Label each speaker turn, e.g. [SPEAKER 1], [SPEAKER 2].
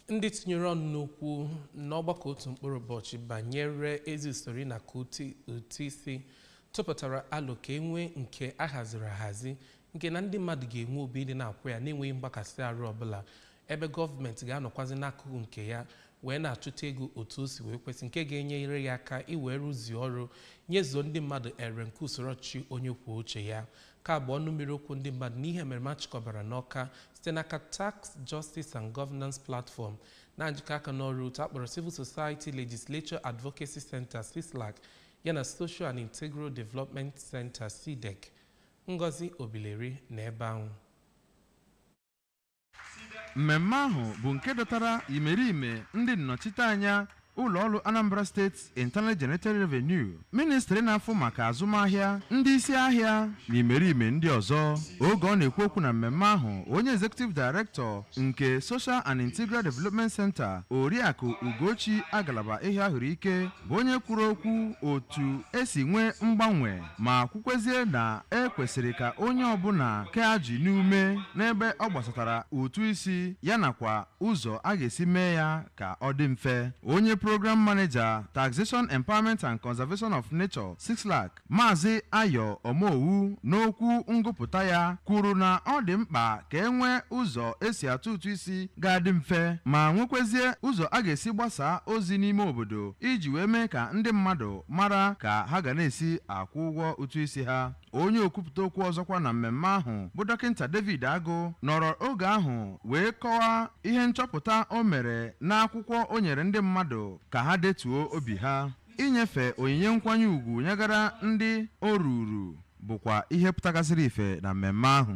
[SPEAKER 1] ndị tinyere ọnụ n'okwu n'ọgbakọ otu mkpụrụ ụbọchị banyere ezi usoro ịnakọ ụtụ isi tụpụtara alo ka enwee nke a haziri ahazi nke na ndị mmadụ ga-enwe obi ịdị na-akwụ ya n'enweghị mgbakasị arụ ọbụla ebe gọọmenti ga-anọkwazi n'akụkụ nke ya wee na-achụta ego otu o si wee kwesị nke ga-enyere ya aka iwee rụzie ọrụ nyezuo ndị mmadụ ere nke usoro ọchịchị onye kwuo uche ya Nke a bụ ọnụ mmiri okwu ndị mmadụ n'ihe emereme a chịkọbara n'Ọka site n'aka Tax Justice and Governance Platform na njikọ aka n'ọrụ otu akpọrọ Civil Society Legislature Advocacy Center CISLAC yana Social and Integral Development Center SIDEC. Ngozi Obileri nọ ebe ahụ.
[SPEAKER 2] mmemme ahụ bụ nke dọtara imerime ndị nnọchiteanya ụlọọrụ anambra state internal generated revenue ministri na-afụ maka azụmahịa ndị isi ahịa na imerime ndị ọzọ oge ọ na-ekwu okwu na mmemme ahụ onye executive director nke social and integral development center oriakụ ugochi agalaba ehiahuruike bụ onye kwuru okwu otu esi nwee mgbanwe ma kwukwezie na e kwesịrị ka onye ọbụla kee ajị n'ume n'ebe ọ gbasatara ụtụ isi ya nakwa ụzọ a ga-esi mee ya ka ọ dị mfe onye program maneja taxation empowerment and conservation of nature cislac maazị ayo omowu n'okwu ngụpụta ya kwuru na ọ dị mkpa ka e nwee ụzọ esi atụ ụtụ isi ga-adị mfe ma nwekwezie ụzọ a ga-esi gbasaa ozi n'ime obodo iji wee mee ka ndị mmadụ mara ka ha ga na-esi akwụ ụgwọ ụtụ isi ha onye okwupụta okwu ọzọkwa na mmemme ahụ bụ dọkịta David Agụ nọrọ oge ahụ wee kọwaa ihe nchọpụta o mere n'akwụkwọ o nyere ndị mmadụ ka ha detuo obi ha inyefe onyinye nkwanye ugwu nyegara ndị o ruuru bụkwa ihe pụtagasịrị ife na mmemme ahụ